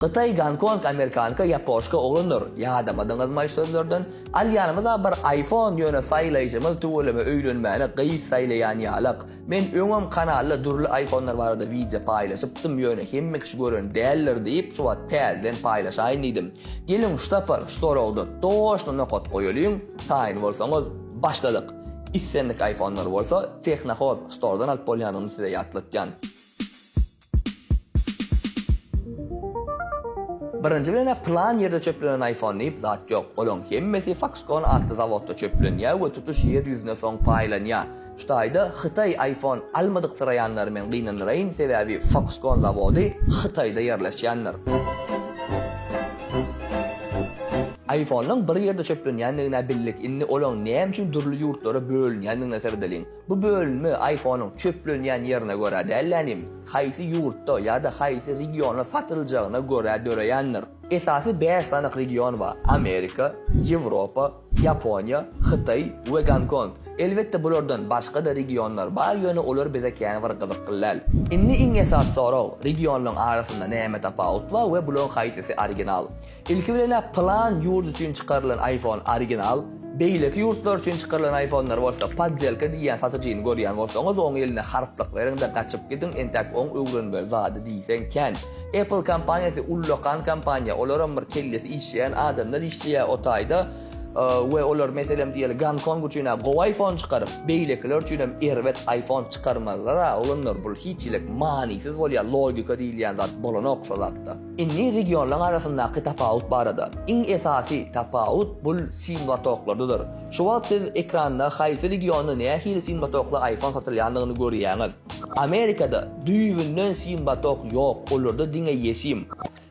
Hytaý Gonkong Amerikanka Ýapoşka oglanlar ýadamadyňyzmaý sözlerden alýanymyza bir aýfon ýöne saýlaýjymyz tüweleme öýlenmäne gyz saýlaýan ýalak men öňem kanalda dürli aýfonlar barada wideo paýlaşypdym ýöne hemme kişi gören däldir diýip şu wagt täzeden paýlaşaýyn diýdim geliň ştapar ştorogda toşna nokat goýalyň taýyn bolsaňyz başladyk islendik aýfonlar bolsa tehnohoz stordan alyp bolýanyny size ýatlatýan. Birinji bilen-ä pylan ýerde çöplenen iPhone diýip zat ýok. Olaň hemmesi Foxconn atly zawodda çöplenýär we tutuş ýer ýüzüne soň paýlanýar. Şu taýda Hytaý iPhone almadyksyraýanlary men gynandyraýyn, sebäbi Foxconn zawody Hytaýda ýerleşýändir. IPhone-nyň bir ýerde çöplenýändigine bildik, indi olaň näme üçin dürli ýurtlara bölünýändigine seredeliň. Bu bölünme iPhone-yň çöplenýän ýerine görä däl-de, haýsy ýurtda ýa-da haýsy regionda satyljagyna görä döreýändir. Esasy bäş sany region bar, Amerika, Ýewropa, Ýaponiýa, Hytaý we Gonkong. Elbetde, bulardan başga-da regionlar bar, ýöne olar bize kän bir gyzykly däl. Indi iň esasy sorag, regionlaryň arasynda näme tapawut bar we bularyň haýsysy original? Ilki bilen-ä plan ýurt üçin çykarylan iPhone original, beýleki ýurtlar üçin çykarylan iPhone-lar bolsa poddelka diýýän satyjyny görýän bolsaňyz oň eline harplyk beriň-de gaçyp gidiň entäk oň öwrenmeli zady diýseň kän. Apple kompaniýasy ullakan kompaniýa, olaram bir kellesi işleýän adamlar işleýä o taýda we olar meselem diýeli Gonkong üçin-ä gowy iPhone çykaryp, beýlekiler üçinem erbet iPhone çykarmalylar-a oglanlar bul hiç hilik manysyz bolýa logika diýilýän zat bolanok şo zatda. Indi regionlaryň arasyndaky tapawut barada. Iň esasy tapawut bul sim lotoklardadyr. Şu wagt siz ekranda haýsy regionda nähili sim lotokly iPhone satylýandygyny görýäňiz. Amerikada düýbünden sim lotok ýok, olarda diňe eSIM.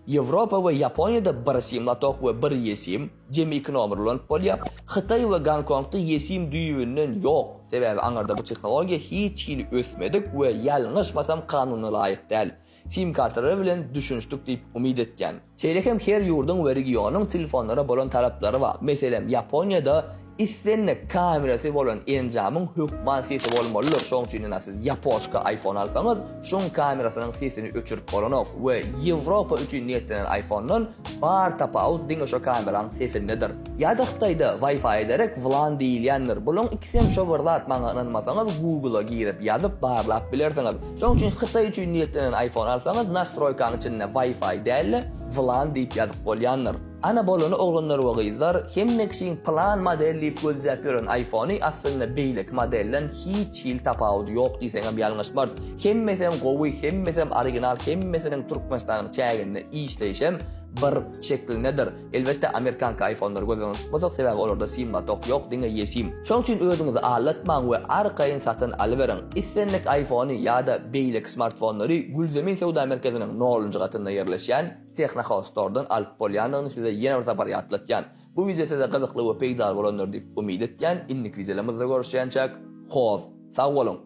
Ýewropa we Ýaponiýada bir sim lotok we bir eSIM, jemi iki nomer ulanyp bolýar. Hytaý we Gonkongda eSIM düýbünden ýok, sebäbi aňyrda bu tehnologiýa hiç hili ösmedik we ýalňyşmasam kanuna laýyk däl. sim-kartalary bilen düşünişdik diýip umyt etýän. Şeýle hem her ýurduň we regionyň telefonlara bolan talaplary bar. Meselem, Ýaponiýada islendik kamerasy bolan enjamyň hökman sesi bolmalydyr, şoň üçin ina siz ýapoşka iPhone alsaňyz, şuň kamerasynyň sesini öçürip bolanok we Ýewropa üçin niýetlenen iPhone-dan Bar tapawut diňe şo kameraň sesindedir. Ýada hytaýda wifi ederek wlan diýilýändir. Bulaň ikisem şo bir zat maňa ynanmasaňyz Google a girip ýazyp barlap bilersiňiz. Şoň üçin hytaý üçin niýetlenen iPhone alsaňyz nastroýkaň içinde wifi dälle wlan diýip ýazyp bolýandyr. Ana bolany oglanlar we gyzlar hemme kişiň plan model diýip gözläp ýören iPhony aslynda beýleki modelden hiç hili tapawudy ýok diýseňem ýalňyşmarys. Hemmesem gowy, hemmesem original, hemmesiniň Türkmenistanyň çäginde işleýşem bir şeklindedir. Elbetde amerikanka iPhone-lary göz öňünde tutmasak, sebäbi olarda sim-lotok ýok, diňe eSIM. Şonuň üçin özüňizi aldatmaň we arkaýyn satyn alyberiň. Islendik iPhone-y ýa-da beýleki smartfonlary Gülzemin söwda merkeziniň nolunjy gatynda ýerleşýän Technohouse Store-dan alyp bolýandygyny size ýene bir sapar ýatlatýan. Bu wideo size gyzykly we peýdaly bolandyr diýip umyt etýän, indiki wideolarymyzda görüşýänçäk, hoz, sag boluň!